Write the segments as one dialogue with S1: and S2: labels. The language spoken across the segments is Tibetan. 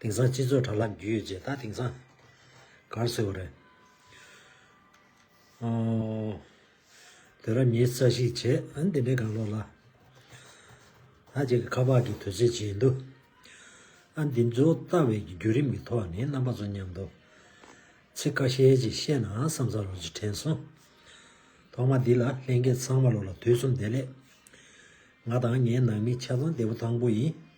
S1: དེང་སང་སྤྱི་ཚོགས་དྲ་ལམ་བརྒྱུད་ཡོད་ཅེས་ད་དེང་སང་གར་བཟོས་བ་རེད། དེ་རབས་ཉིན་རྩ་ཞིག་བྱེད་འདི་འདྲའི་གང་ལོག་ལ། ད་ཅིག་གི་ཁ་པག་གི་དུས་ཚོད་བྱེད་འདུག་ཨ་འདི་ཚོ་ལྟ་བའི་བརྒྱུད་རིམ་གྱི་ཐོག་ནས་རྣམ་པ་ཚོ་མཉམ་འདུག་ཚིག་ཁ་ཤས་ཅིག་བཤད་ནའང་བསམ་ས་ལོག་ཅིག་དྲན་སོང། ཐོག་མ་འདི་ལ་ལྷན་རྒྱས་ཚང་མ་ལོག་ལ་དུས་གསུམ་བདེ་ལེགས། ང་དང་ངའི་ནང་མི་ཆ་ཚང་བདེ་པོ་དང་པོ་ཡིན།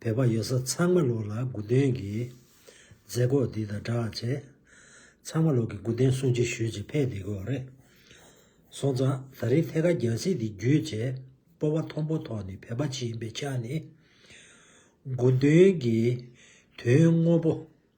S1: བོད་པ་ཡོད་ས་ཚང་མ་ལོག་ལ་སྒུག་དོན་གྱིས། མཛད་སྒོ་འདི་དང་འདྲ་བར་བྱས། ཚང་མ་ལོག་གི་སྒུག་དོན་གསུང་ཅི་ཞུས་ཅི་ཕེད་བསྡད་དགོས་རེད། སོང་ཙང་ད་རིང་ཐད་ཀར་རྒྱལ་སྲིད་འདི་བརྒྱུད་བྱས། སྤོ་བ་ཐོང་པོ་ཐོག་ནས་བོད་པ་ཅི་ཡིན་པའི་ཆ་ནས། སྒུག་དོན་གྱིས་དོན་དངོས་པོ།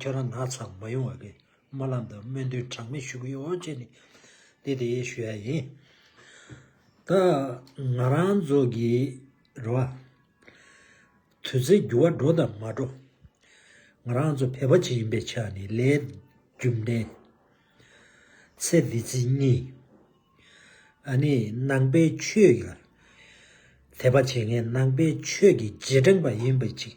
S1: ཁྱོད་རང་ནག་ཚང་མ་ཡོང་བ་གིས་སྨོན་ལམ་དང་སྨོན་འདུན་གྲངས་མེད་ཞུ་གི་ཡོད་ཅེས་ནས་འདི་དེ་ཞུ་ཡ་ཡིན། ད་ང་རང་ཚོ་གི་རེ་བ། དུས་ཚོད་འགྱུར་བ་འགྲོ་དང་མ་འགྲོ། ང་རང་ཚོ་བོད་པ་ཅིག་ཡིན་པའི་ཆ་ནས་ལས་རྒྱུ་འབྲས་ཚེ་འདི་ཚེ་གཉིས། ཨ་ནི་ནང་པའི་ཆོས་ལ་དད་པ་བྱེད་མཁན་ནང་པའི་ཆོས་ཀྱི་རྗེས་འབྲངས་པ་ཡིན་པ་ཅིག།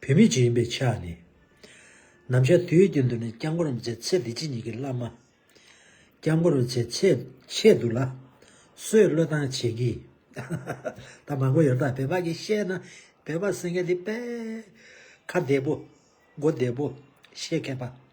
S1: བུད་མེད་ཅིག་ཡིན་པའི་ཆ་ནས། ནམ་ཞར་དུས་རྒྱུན་དུ་ནི་སྐྱབས་མགོན་རབ་མཛེས་ཚེ་འདི་ཕྱི་གཉིས་ཀྱི་བླ་མ། སྐྱབས་མགོན་རབ་མཛེས་ཚེ་ཆེད་དུ་ལ་གསོའི་བློས་བཏང་བྱེད་ཀྱི། ད་མ་གོ་ཡོད་ད་བོད་པ་གིས་བཤད་ན་བོད་པ་སེང་གེ་འདི་དཔལ། ཁ་བདེ་པོ། མགོ་བདེ་པོ། བཤད་མཁས་པ།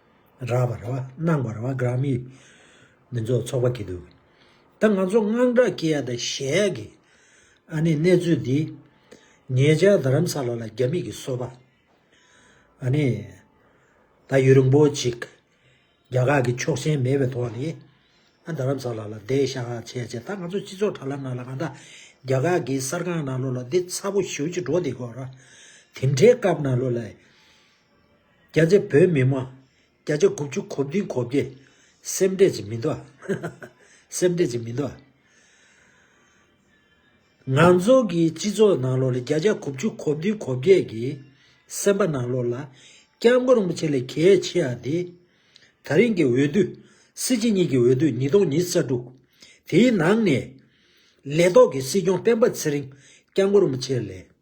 S1: རགས་པ་རེད་བ་སྣང་བ་རེད་བ་གང་མི་མི་ཚོགས་ཚོགས་པ་གི་འདུག་ད་ང་ཚོ་དངངས་སྐྲག་སྐྱེ་ཡ་དང་གཞལ་ཡ་གི་ཨ་ནི་གནས་ཚུལ་འདི་ངེད་ཅག་རྡ་རམ་ས་ལ་ལ་རྒྱ་མི་གི་གསོ་པ་ཨ་ནི་ད་ཡུ་རིང་པོ་ཅིག་རྒྱ་གར་གི་ཆོག་ཆེན་མེད་པའི་ཐོག་ནས་ཨ་རྡ་རམ་ས་ལ་ལ་བསྡད་ཤག་བྱས་བྱས་ད་ང་ཚོ་སྤྱི་ཚོགས་དྲ་ལམ་ནང་ལ་གང་ད་རྒྱ་གར་གི་གསར་ཁང་ནང་ལོ་ལ་འདི་ཚ་པོ་ཞུ་ཅི་འགྲོ་འདི་གོ་ར་དེ་འདྲའི་སྐབས་ནང་ལོ་ལ། བརྒྱ་ཆ་བོད་མི་དམངས། བརྒྱ་ཆ་དགུ་བཅུ་གོ་བདུན་གོ་བརྒྱད། སེམས་ཁྲལ་བྱེད་མི་འདུག་ཨ། སེམས་ཁྲལ་བྱེད་མི་འདུག་ཨ། ང་ཚོ་གི་སྤྱི་ཚོགས་ནང་ལོགས་ལ་བརྒྱ་ཆ་དགུ་བཅུ་གོ་བདུན་གོ་བརྒྱད་ཀྱི་སེམས་པ་ནང་ལོགས་ལ། སྐྱབས་མགོན་རིན་པོ་ཆེ་ལས་གལ་ཆེ་བ་དེ། ད་རིང་གི་འོས་བསྡུ། སྲིད་སྤྱི་གཉིས་ཀྱི་འོས་བསྡུ་ཉིས་སྟོང་ཉིས་བརྒྱ་དྲུག། དེའི་ནང་ནས། ལས་ཐོག་གི་སྲིད་སྐྱོང་སྤེན་པ་ཚེ་རིང་སྐྱབས་མགོན་རིན་པོ་ཆེ་ལས།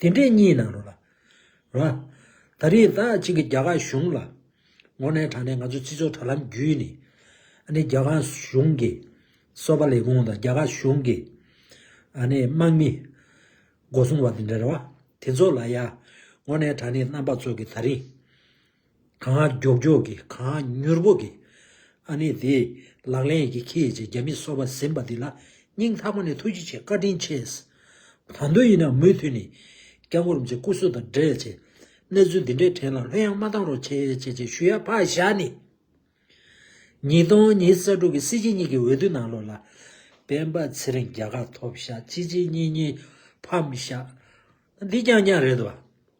S1: དེ་འདྲའི་གཉིས་ནང་རུང་ལ། རོ། ད་རེས་ད་གཅིག་གི་རྒྱ་གར་གཞུང་ལ། ངོ་ནས་དྲངས་ནས་ང་ཚོའི་སྤྱི་ཚོགས་དྲ་ལམ་བརྒྱུད་ནས། ཨ་ནི་རྒྱ་གར་གཞུང་གི། སོ་པ་ལས་ཁུངས་དང་རྒྱ་གར་གཞུང་གི། ཨ་ནི་དམག་མི། སྒོ་སྲུང་བ་དེ་འདྲ་རེད་བ། དེ་ཚོ་ལ་ཡ། ངོ་ནས་དྲངས་ནས་རྣམ་པ་ཚོ་གི་ད་རིང། གང་མགྱོགས་མགྱོགས་ཀྱིས་གང་མྱུར་མྱུར་གྱིས། ཨ་ནེ་དེས་ལག་ལེན་གྱིས་ཁྱེད་ཀྱི་རྒྱ་མི་གསོ་བ་ཟིན་པ་འདི་ལ་སྙིང་ཐག་པ་ནས་ཐུགས་རྗེ་ཆེ་བཀའ་དྲིན་ཆེ། ད་དུང་ཡིན་ན་མུས་མཐུད་ནས་སྐྱབས་མགོན་རིན་པོ་ཆེ་སྐུ་གཟུགས་དང་འབྲེལ་ཆེ། གནས་ཚུལ་འདི་འདྲའི་གྲས་ལ་ལྷོད་ཡང་མ་བཏང་རོགས་ཆེ་ཆེ་ཆེ་ཞུ་ཡ་ཕག་ཞྭ་ནི། ཉིས་སྟོང་ཉིས་རྩ་དྲུག་གི་སྲིད་སྤྱི་གཉིས་ཀྱི་འོས་བསྡུ་ནང་ལོ་ལ། སྤེན་པ་ཚེ་རིང་རྒྱ་གར་ཐོབ་ཤག་སྤྱི་སྤྱི་གཉིས་གཉིས་ཕམ་ཤག། འདི་རྐྱང་རྐྱང་རེད་དོ།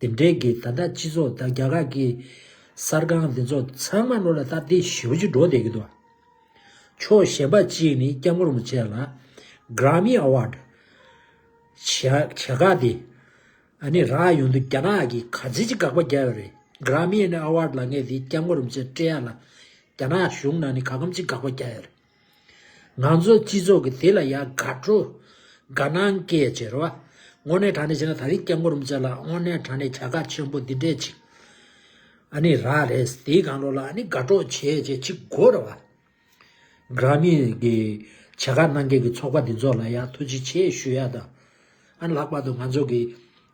S1: དེ་འབྲེལ་གྱི་ད་ལྟ་སྤྱི་ཚོགས་དང་རྒྱ་གར་གྱི་གསར་ཁང་འདི་ཚོ་ཚང་མ་བློ་ལ་བཏབ་སྟེ་ཞི་བ་ཅིག་འགྲོ་བསྡད་ཀྱི་འདུག་ཕྱོགས་གཞན་པ་གཅིག་ནི་སྐྱབས་མགོན་རིན་པོ་ཆེ་ལ Grammy Award བྱས་བྱས་ཁག་དེ་ཨ་ནི་རག་ཡོང་དུས་རྒྱ་ནག་གི་ག་ཚད་ཅིག་དགག་པ་རྒྱབ་ཡོད་རེད Grammy Award ལ་ངེས་དེ་སྐྱབས་མགོན་རིན་པོ་ཆེ་སྤྲད་ཡ་ལ་རྒྱ་ནག་གཞུང་ནང་ནས་ག་གམ་ཅིག་དགག་པ་རྒྱག་ཡོད་རེད། ང་ཚོའི་སྤྱི་ཚོགས་ཀྱི་དེ་ལ་ཡང་དགའ་སྤྲོ། དགའ་སྣང་སྐྱེས་ཅེས་རེ་བ། དངོས་གནས་དྲང་གནས་བྱས་ན་ད་རིང་སྐྱབས་མགོན་རིན་པོ་ཆེ་ལགས་དངོས་གནས་དྲང་གནས་བྱ་དགའ་ཆེན་པོ་འདི་འདྲས་ཅིག་ཨ་ནི་རག་རེད་དེའི་གང་ལོག་ལ་ཨ་ནི་དགའ་སྤྲོ་བྱེད་ཅེས་ཅིག་དགོས་རེ་བ། Grammy གི་བྱ་དགའ་གནང་མཁན་གྱི་ཚོགས་པ་འདི་ཚོ་ལ་ཡང་ཐུགས་རྗེ་ཆེ་ཞུ་ཡག་དང། ཨ་ནི་ལྷག་པར་དུ་ང་ཚོ་གི།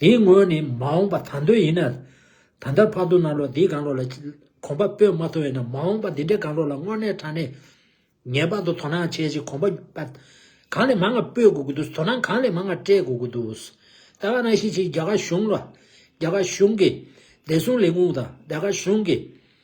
S1: དེའི་དངོས་ནི་མ་འོངས་པ་ད་འདོད་ཡིན་ན། ད་ལྟར་བར་དུ་ན་ལོ་འདིའི་གང་ལོ་ལ་གོམ་པ་སྤོས་མ་ཐུབ་བས་ན་མ་འོངས་པ་འདི་འདྲའི་གང་ལོ་ལ་དངོས་གནས་དྲང་གནས་ངེས་པར་དུ་དོ་སྣང་བྱེད་ཅིག་གོམ་པ་གང་ལས་མང་ང་སྤོས་དགོས་ཀྱི་འདུག་དོ་སྣང་གང་ལས་མང་ང་སྤྲད་དགོས་ཀྱི་འདུག་ད་བར་ན་ཤེས་ཆེ་རྒྱ་གར་གཞུང་ལ། རྒྱ་གར་གཞུང་གིས། བདེ་སྲུང་ལས་ཁུངས་དང་རྒྱ་གར་གཞུང་གིས།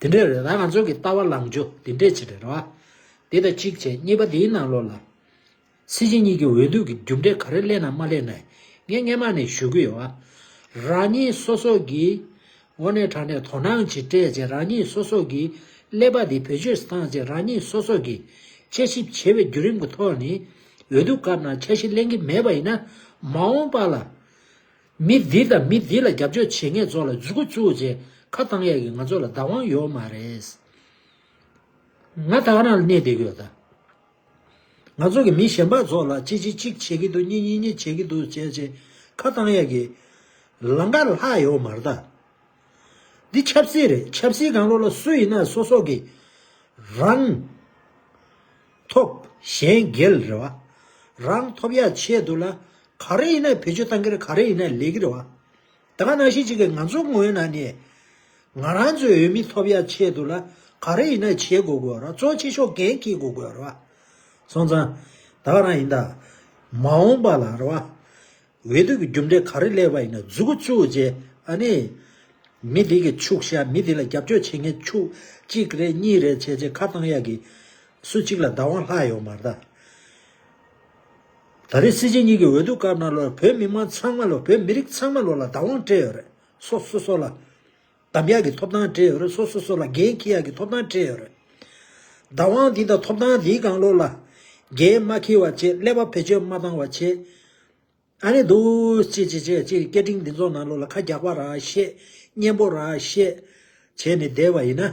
S1: དེ་འདྲའི་རེ་བ་ང་ཚོ་གི་ལྟ་བ་ལངས་རྒྱུ་དེ་འདྲས་བྱེད་རེ་བ། དེ་ད་གཅིག་བྱས་གཉིས་པ་དེའི་ནང་ལོགས་ལ། སྲིད་སྤྱི་གཉིས་ཀྱི་འོས་བསྡུ་གི་རྒྱུ་འབྲས་ག་རེ་ལེན་ནམ་མ་ལེན་ནའི་ངས་སྔན་མ་ནས་ཞུ་གི་ཡོད་བ། རང་ཉིད་སོ་སོ་གིས་འོ་ནས་དྲག་ནས་དོ་སྣང་གྱིས་སྤྲད་རྗེས་རང་ཉིད་སོ་སོ་གིས་ཀླད་པ་དེ་བེད་སྤྱོད་བཏང་རྗེས་རང་ཉིད་སོ་སོ་གིས་དཔྱད་ཞིབ་བྱས་པའི་བརྒྱུད་རིམ་གྱི་ཐོག་ནས་འོས་བསྡུ་སྐབས་ནང་འཆར་གཞི་གླེང་གི་མེད་པ་ཡིན་ན་མ་འོངས་པ་ལ། མི་འདི་དང་མི་འདི་ལ་རྒྱབ་སྐྱོར་བྱེད་མཁན་ཚོ་ལ་རྫུས་ཁུ་བཙུགས་རྗེས་ཁ་བཏང་ཡག་གི་ང་ཚོ་ལ་བདག་དབང་ཡོད་མ་རེད། ང་ཐག་རང་ལ་གནས་བསྡད་གི་ཡོད་ད། ང་ཚོ་གི་མི་གཞན་པ་ཚོ་ལ་གཅིག་གཅིག་གཅིག་བྱེད་གི་འདུག་གཉིས་གཉིས་གཉིས་བྱེད་གི་འདུག་བྱས་རྗེས་ཁ་བཏང་ཡག་གི། ལང་ཀ་ལྷག་ཡོད་མ་རེད་ད། འདི་ཆབ་སྲིད་རེད་ཆབ་སྲིད་གང་ལོག་ལ་སུ་ཡིན་ན་སོ་སོ་གི་རང། ཐོབ། གཞན་སྒེར་རེ་བ། རང་ཐོབ་ཡ་ཆེད་དུ་ལ། ག་རེ་ཡིན་ན་བེད་སྤྱོད་གཏང་གིར་ག་རེ་ཡིན་ན་ལས་ཀིར་བ། ད་ག་ནང་བཞིན་ཅིག་གིས་ང་ཚོ་ངོས་ན་ནས། ང་རང་ཚོའི་འོས་མི་ཐོབ་ཡ་ཆེད་དུ་ལ་ག་རེ་ཡིན་ན་བྱེད་དགོས་དགོས་ར་གཙོ་ཆེ་ཤོག་གན་ཁིས་དགོས་དགོས་ར་བ། སོང་ཙང། ད་ག་རང་ཡིན་ད། མ་འོངས་པ་ལ་ར་བ། འོས་བསྡུ་གི་རྒྱུ་འབྲས་ག་རེ་ལས་པ་ཡིན་ན་རྫུ་གུ་བཅུ་བཅས་ཨ་ནི། མི་དེ་གི་ཕྱུག་ཤ་མི་དེ་ལ་རྒྱབ་སྐྱོར་བྱེད་མཁན་ཕྱུག་གཅིག་རེད་གཉིས་རེད་བྱས་བྱས་ཁ་བཏང་ཡག་གི། སུ་གཅིག་ལ་བདག་དབང་ལྷག་ཡོད་མ་རེད་ད། ད་རེས་སྲིད་སྤྱི་གཉིས་གི་འོས་བསྡུ་སྐབས་ན་ལོར་བོད་མི་དམངས་ཚང་མ་ལོ་བོད་མི་རིགས་ཚང་མ་ལོ་ལ་བདག་དབང་སྤྲད་ཡོད་རེད་སོ་སོ་སོ་ལ། འདམ་གཡག་གི་ཐོབ་ཐང་སྤྲད་ཡོད་རེད་སོ་སོ་སོ་ལ་རྒན་ཁྱི་གཡག་གི་ཐོབ་ཐང་སྤྲད་ཡོད་རེད། བདག་དབང་འདི་དང་ཐོབ་ཐང་འདིའི་གང་ལོག་ལ། རྒན་མ་ཁྱི་བ་བྱེད་ཀླད་པ་བེད་སྤྱོད་མ་བཏང་བ་བྱེད། ཨ་རེད་འདུག་ཅེས་ཅེས་ཅེས་ཅེས་སྐད་འཕྲིན་འདི་ཚོ་ནང་ལོག་ལ་ཁ་རྒྱག་པ་ར་ཤེས། གཉེན་པོ་ར་ཤེས། བྱས་ནས་བསྡད་པ་ཡིན་ན།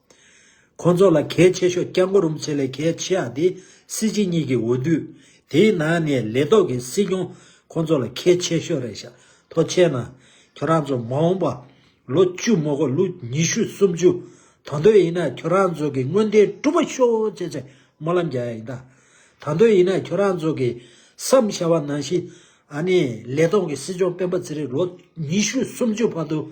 S1: ཁོང་ཚོ་ལ་གལ་ཆེ་ཤོས་སྐྱབས་མགོ་རུམ་ཆེད་ལས་གལ་ཆེ་ཡག་དེ་སྲིད་སྤྱི་གཉིས་ཀྱི་འོས་བསྡུ། དེའི་ནང་ནས་ལས་ཐོག་གི་སྲིད་སྐྱོང་ཁོང་ཚོ་ལ་གལ་ཆེ་ཤོས་རེད་ཤ་ཐོ་ཆེ་ན། ཁྱོད་རང་ཚོ་མ་འོངས་པ་ལོ་བཅུ་མོ་གོ་ལུག་ཉི་ཤུ་སུམ་ཅུ་དང་དོད་ཡིན་ན་ཁྱོད་རང་ཚོ་གི་སྔོན་བསྟན་གྲུབ་པ་ཤོ་ཆེ་ཆེ་སྨོན་ལམ་རྒྱག་ཡ་ཡིན་ད། དང་དོད་ཡིན་ན་ཁྱོད་རང་ཚོ་གི་སམ་ཤ་བ་ནང་བཞིན་ཨ་ནི་ལས་ཐོག་གི་སྲིད་སྐྱོང་སྤེན་པ་ཚེ་རིང་ལོ་ཉི་ཤུ་སུམ་ཅུ་བར་དུ།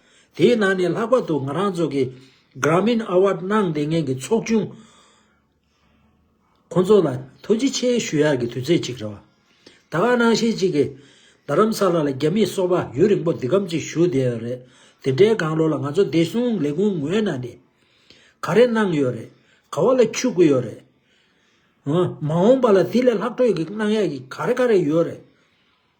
S1: དེའི་ནང་ནས་ལྷག་པར་དུ་ང་རང་ཚོ་གི Grameen Award གནང་དེ་ངེད་ཀྱི་ཚོགས་ཆུང་ཁོང་ཚོ་ལ་ཐུགས་རྗེ་ཆེ་ཞུ་ཡག་གི་དུས་ཚོད་ཅིག་རེད་བ། ད་ཁ་ནང་བཤད་ཅིག་གི་རྡ་རམ་ས་ལ་ལ་རྒྱ་མིས་སོག་པ་ཡུན་རིང་པོ་འདི་གམ་ཅིག་བཞུགས་བསྡད་ཡོད་རེད་དེ་འདྲའི་སྒང་ལོ་ལ་ང་ཚོ་བདེ་སྲུང་ལས་ཁུངས་ངོས་ནང་ནས་ག་རེ་གནང་ཡོད་རེད་ག་བ་ལ་འཆུག་གི་ཡོད་རེད་ཧ། མ་འོངས་པ་ལ་དེ་ལས་ལྷག་འཕྲོས་ཀྱི་གནང་ཡག་གི་ག་རེ་ག་རེ་ཡོད་རེད།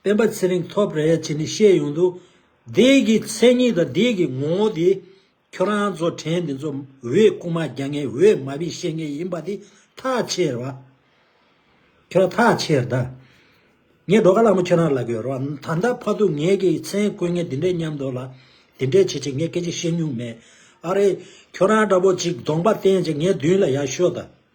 S1: སྤེན་པ་ཚེ་རིང་ཐོབ་རེད་ཅེས་ནི་བཤད་ཡོང་དུས། འདི་གི་མཚན་ཉིད་དང་འདི་གི་ངོ་བོ་དེ། ཁྱོད་རང་ཚོ་དྲན་འདི་ཚོ་འོས་རྐུ་མ་རྒྱག་མཁན་འོས་མ་བི་བཤད་མཁན་ཡིན་པ་དེ་ཐག་ཆེར་བ། ཁྱོད་རང་ཐག་ཆེར་ད། ངས་འགྲོ་ག་ལ་མོ་ཁྱོད་རང་ལ་གོས་རོགས་ད་ལྟ་ཕ་ཐུག་ངེད་ཀྱི་མཚན་བཀོད་ངེས་འདི་འདྲས་སྙམ་འདོད་ལ། འདི་འདྲས་བྱེད་ཆེད་ངས་སྐད་ཅིག་བཤད་མྱུང་མེད། ཨ་རེ། ཁྱོད་རང་འདྲ་པོ་ཅིག་གདོང་པ་བསྟན་ཅིག་ངའི་མདུན་ལ་ཡར་ཤོག་ད།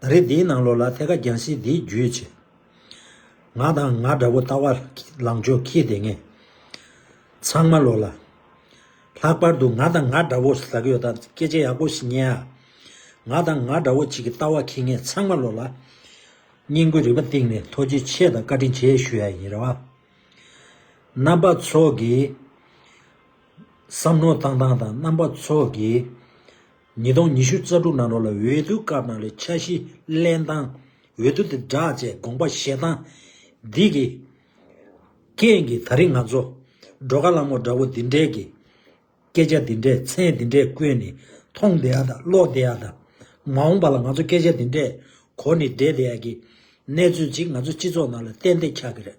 S1: ད་རེས་འདིའི་ནང་ལོགས་ལ་ཐད་ཀ་རྒྱང་བཞིན་འདིའི་རྒྱུད་ཆེ། ང་དང་ང་འདྲ་བོ་ལྟ་བ་ལང་ཆོས་ཁྱི་དེ་ངས། ཚང་མ་ལོགས་ལ། ལྷག་པར་དུ་ང་དང་ང་འདྲ་བོ་ཟ་གི་ཡོད་སྟབས་སྐད་ཆ་ཡག་པོ་ཞིག་ཉན་ཨ། ང་དང་ང་འདྲ་བོ་ཅིག་གི་ལྟ་བ་ཁྱི་ངས་ཚང་མ་ལོགས་ལ། སྙིང་དགོས་རིག་པ་གཏིང་ནས་མཐོ་རྒྱུ་ཆེ་དང་བཀའ་དྲིན་ཆེ་ཞུ་ཡ་ཡིན་རེད་བ། རྣམ་པ་ཚོགས་ཀྱིས། བསམ་མནོ་བཏང་སྟངས་དང་རྣམ་པ་ཚོགས་ཀྱིས། ཉིས་སྟོང་ཉི་ཤུ་རྩ་དྲུག་ནང་རོགས་ལ་འོས་བསྡུ་སྐབས་ནང་ལའི་འཆར་གཞི་གླེང་སྟངས། འོས་བསྡུ་དེ་བསྒྲགས་བཅས་དགོངས་པ་བཞེས་སྟངས། འདི་གི་རྐྱེན་གྱིས་ད་རིང་ང་ཚོ། འགྲོ་ཁ་ལམ་འོག་འདྲ་བོ་འདི་འདྲས་ཀྱི། སྐད་ཆ་འདི་འདྲས་མཚན་འདི་འདྲས་ཀུན་ནི་མཐོང་བདེ་ཡག་དང་ཀློག་བདེ་ཡག་དང། མ་འོངས་པ་ལ་ང་ཚོ་སྐད་ཆ་འདི་འདྲས་གོ་ནི་བསྡད་བདེ་ཡག་གི་གནས་ཚུལ་ཅིག་ང་ཚོ་སྤྱི་ཚོགས་ནང་ལ་གཏན་བདེ་ཆགས་ཀྱི་རེད།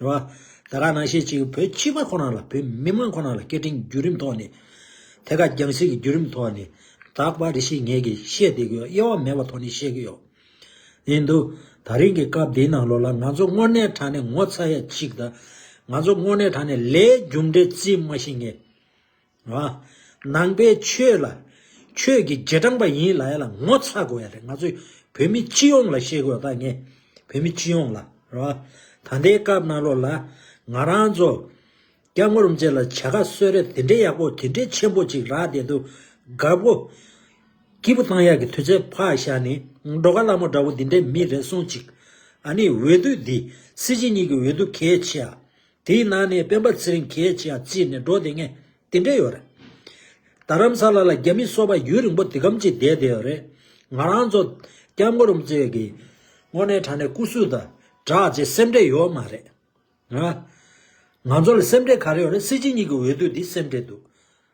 S1: རེད་བ། ད་ག་ནང་བཤད་ཅིག་གི་བོད་སྤྱི་པ་ཁོ་ན་ལ་བོད་མི་མང་ཁོ་ན་ལ་སྐད་འཕྲིན་རྒྱུད་རིམ་ཐོག་ནས། དེ་ག་རྒྱང་སྲིད་ཀྱི་རྒྱུད་རིམ་ཐོག་ནས་དག་པ་རེ་ཤིག་ངེད་ཀྱི་བཤད་བསྡད་གི་ཡོད་དབྱེ་བ་མེད་པ་ཐོག་ནས་བཤད་གི་ཡོད་ཡིན་འདུག་ད་རིང་གི་སྐབས་འདིའི་ནང་ལོགས་ལ་ང་ཚོ་དངོས་གནས་དྲ་ནས་ངོ་ཚ་ཡ་གཅིག་དང། ང་ཚོ་དངོས་གནས་དྲ་ནས་ལས་རྒྱུ་འབྲས་རྩིས་མ་ཤེས་ངེས། ནང་པའི་ཆོས་ལ། ཆོས་ཀྱི་རྗེས་འབྲང་པ་ཡིན་ལ་ཡ་ལ་ངོ་ཚ་དགོས་ཡ་རེད་ང་ཚོས་བོད་མི་སྤྱི་ཡོངས་ལ་བཤད་དགོས་ད་ངས་བོད་མི་སྤྱི་ཡོངས་ལ་རེད་བ། ད་ལྟའི་སྐབས་གནའ་ལོ་ལ་ང་རང་ཚོ། སྐྱ་སྔོ་རུམ་བཅས་ལ་བྱ་དགའ་གསོལ་རས་དེ་འདྲའི་ཡག་པོ་དེ་འདྲའི་ཆེན་པོ་ཅིག་རག་བསྡད་འདུག་དགའ་བོ། སྐྱིད་པོ་བཏང་ཡག་གི་དུས་ཚོད་ཕག་ཞག་ནི་འགྲོ་ཁ་སླ་མོ་འདྲ་བོ་འདི་འདྲའི་མི་རེ་ཟུང་ཅིག། ཨ་ནི་འོས་བསྡུ་འདི་སྲིད་སྤྱི་གཉིས་ཀྱི་འོས་བསྡུ་གལ་ཆེ་ཨ། དེའི་ནང་ནས་སྤེན་པ་ཚེ་རིང་གེ་ཅི་ཡང་བརྩིས་ནས་འགྲོ་དེ་ངས་དེ་འདྲས་ཡོད་རེད། རྡ་རམ་ས་ལ་ལ་རྒྱ་མི་སོག་པ་ཡུལ་རིང་པོ་དེ་སྒམ་གཅིག་བསྡད་བསྡད་ཡོད་རེད། ང་རང་ཚོ་སྐྱབས་མགོ་རུམ་ཚེ་གི་དངོས་གནས་དྲ་གནས་སྐུ་སུ་དང་བསྒྲགས་རྗེས་སེམས་ཁྲལ་ཡོད་མ་རེད། ང། ང་ཚོ་ལ་སེམས་ཁྲལ་ག་རེ་ཡོད་རེད་སྲིད་སྤྱི་གཉིས་ཀྱི་འོས་བསྡུ་འདི་སེམས་ཁྲལ་འདུག།